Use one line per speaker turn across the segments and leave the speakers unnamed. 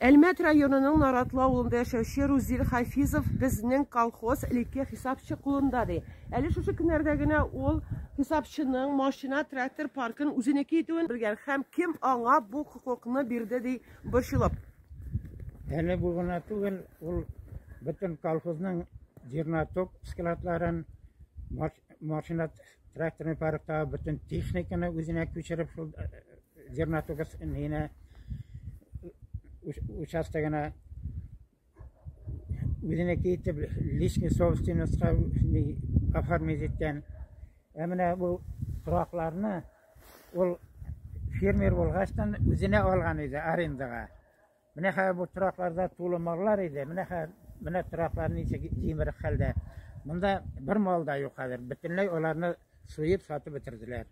Әлмәт районының Наратлы авылында яшәүче Рузил Хафизов безнең колхоз элекке хисапчы кулында ди. Әле шушы көннәрдә генә ул хисапчының машина, трактор паркын үзенеке итүен белгән һәм кем аңа бу хокукны бирде ди борчылып.
Әле бу гына түгел, ул бөтен колхозның зернотоп складларын, машина Тракторный паркта бөтен техниканы үзенә күчереп шул зернотугас нейне участогына үзенеке итеп личный собственностька оформить иткән. Ә менә бу торакларны ул фермер булгачтан үзенә алган иде арендага. Менә хәзер бу торакларда тулы маллар иде. Менә хәзер менә тораклар ничек җимерек хәлдә. Монда бер мал да юк хәзер. Бөтенләй аларны суеп сатып бетерделәр.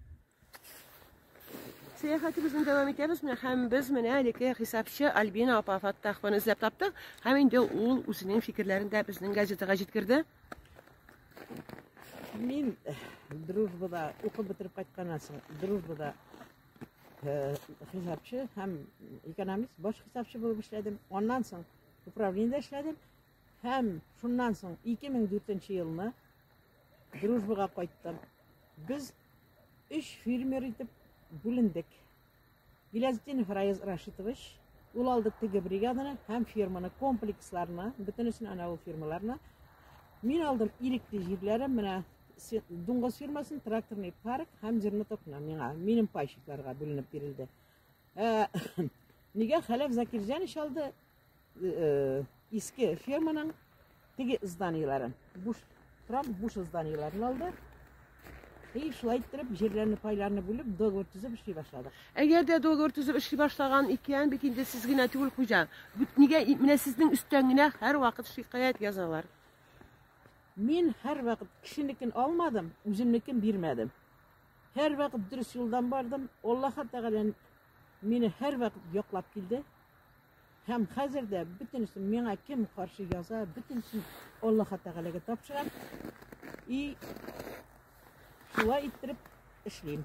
Сәяхәтебезне дәвам итәбез. Менә һәм без менә әлеге хисапчы Альбина апа Фаттахованы эзләп таптык. Һәм инде ул үзенең фикерләрен дә безнең газетага җиткерде.
Мин э, дружбада укып бетереп кайтканнан соң дружбада хисапчы һәм экономист баш хисапчы булып эшләдем аннан соң управлениедә эшләдем һәм шуннан соң 2004 елны дружбага кайттым без өч фермер итеп бүлендек Гилязетдинов Раиз Рашитович ул алды теге бригаданы һәм ферманы комплексларны бөтенесен ана ул фермаларны мин алдым ирекле җирләрем менә Дуңгыз фирмасын тракторный парк һәм җирне тотына миңа, минем пайщикларга бүленеп бирелде. Ә, нигә Хәләф Закирҗан ич алды э, иске ферманың теге зданиеләрен, буш трак буш зданиеләрен алды. И шулай иттереп җирләрне пайларны бүлеп договор төзеп эшли башладык. Әгәр дә договор
төзеп эшли башлаган икән, бит инде сез генә түгел хуҗа. Бит нигә менә сезнең өстән генә һәрвакыт шикаять язалар.
Мин һәрвакыт кешенекен алмадым, үземнекен бирмәдем. Һәрвакыт дөрес юлдан бардым. Аллаһы Тәгалә мине һәрвакыт яклап килде. Һәм хәзер дә бөтенесен миңа кем каршы яза, бөтенесен Аллаһы Тәгаләгә тапшырам. И шулай иттереп эшлим.